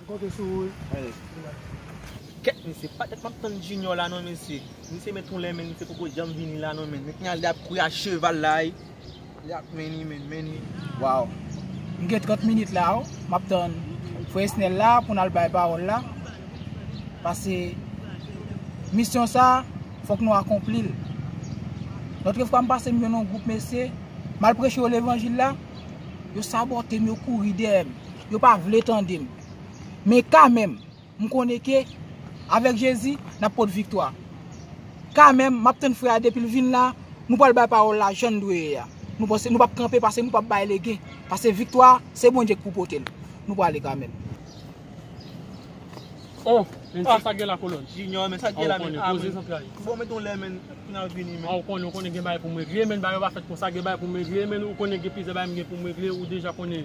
M konte sou ou wi. Kèt mesye pa tèt map tann junior la non mesye misye met yon lè men misye poko janm vini la non men met nal ap kouri a cheval la wi li ap many men many waw. M gen 30 minit la oh map tann frè esnel la pou nal bay pawòl la pase misyon sa fòk nou akonplil lotre fwa m pase m jwenn yon gwoup mesye mal preche yo levanjil la yo sabotem yo kouri dèyèm. Yo pa vle tande m. Men kamèm, m konnen ke avèk Jezi, n ap pot viktwa. Kamèm, m ap tann frè a depi l vin la, nou pral bay pawòl la jan l dwe ye a. Nou pase, nou pa p kanpe, pase nou pa p bay lege. Pase viktwa, se Bondye k pou pote l. Nou prale kamèm. Oh! Men se sa k gen la kolòn? Junior, men sa k gen la men? Ah men, bon mete yon lè men, pou n al vini men. Ah ou konnen, ou konnen gen bagay pou m regle men, bagay yo pa fèt konsa, gen bagay pou m regle men, ou konnen gen plizyè bagay m gen pou m regle, ou deja konnen.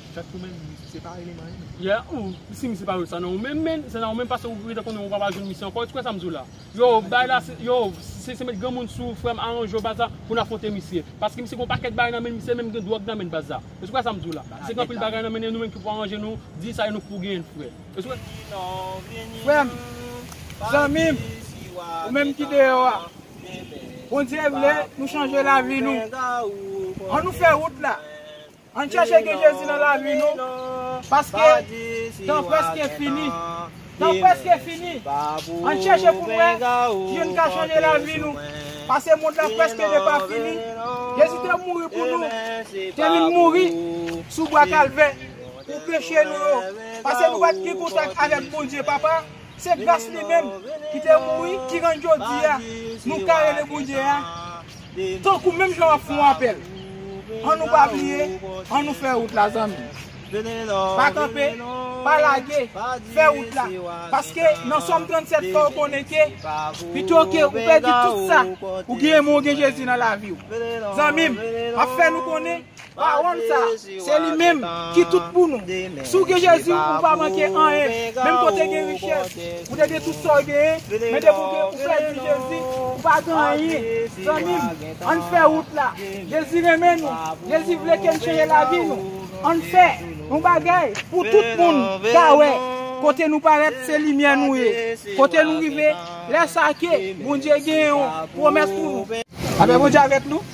Chat pou men misye se pa rele m anyen menm. Yeah ou si misye pa wè sa nan ou menm menn se nan ou menm pase ou rete konnen ou pa pral jwenn misye ankò ou t kwè sa m di w la yow bay la se yow se met granmoun sou ou frè m aranje w baz la pou n afwonte misye paske misye gon pakèt bagay nan men l misye menm gen dwòg nan men l baz la ou t kwè sa m di w la misye gen anpil bagay nan men l e nou menm ki pou aranje nou di sa e nou k pou genyen l frè ou t kwè Frè m zanmi m ou menm ki deyò a Bondye vle nou chanje lavi nou an nou fè wout la. Ann chèche gen Jezi nan lavi nou paske tan prèske fini tan prèske fini ann chèche pou n wè ki jan n ka chanje lavi nou pase mond la prèske depafini Jezi te mouri pou nou te vin mouri sou bwa kalvè pou peche nou yo pase nou pat gen kontak avèk Bondye papa se gras li menm ki te mouri ki rann jodi a nou ka rele Bondye a. Tankou menm jan wap fon apèl. An nou pa bliye, an nou fè wout la zanmi. Pa kanpe, pa lage, fè wout la. Paske nan Sòm 37 fòw konnen ke pito ke ou pèdi tout sa ou genyen men ou gen Jezi nan laviw. Zanmim, map fè nou konnen. Pawòl sa, se li menm ki tout pou nou. Si w gen Jezi, ou pa manke anyen. Menm ke w te gen richès, ou te gen tout sa w genyen, men depi w pèdi Jezi, ou pa gen anyen. Zanmi m, ann fè wout la. Jezi renmen nou. Jezi vle ke n chanje lavi nou. Ann fè yon bagay pou tout moun ka wè kote nou parèt se limyè nou ye. Kote nou rive, lè sa ke Bondye gen yon pwomès pou nou. Lapè Bondye avèk nou.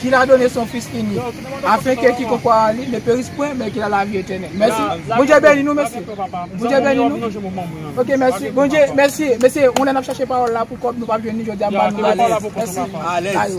Ki la done son fis inik, afen ke ki kon kwa a li ne peris pwen, men ki la lavi etènèl. Mèsi. Bondye beni nou mesye. Bondye beni nou. Ok mèsi. Bondye, mèsi. Mesye, yon lè n ap chache pawòl la pou kòb, nou pa p jwenn li, jodi a m ba nou l. Mèsi. Alèz.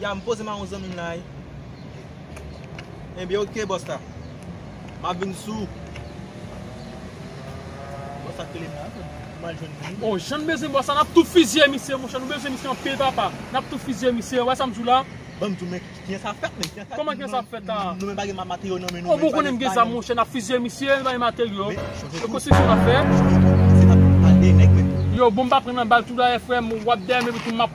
Ya m poze m a yon zanmi m la wi. Ebyen ok bòs la. M ap vin sou. Bòs la k rele m la. Pou m al jwenn moun. Oh jan n bezwen bòs la n ap tou fizye misye monchè nou bezwen misye anpil papa. N ap tou fizye misye ou wè sa m di w la. Ban m di w men kijan sa ap fèt men. Kòman kijan sa ap fèt la. Nou menm pa gen materyo nan men nou. Oh men w konnen m gen zam monchè n ap fizye misye nou pa gen materyo. Se konstriksyon n ap fè. Chonje tou. Misye t ap pale nèg men. Yo bon m pa pran nan bal tou dayè frè m. W ap dèyè m epi tou m ap.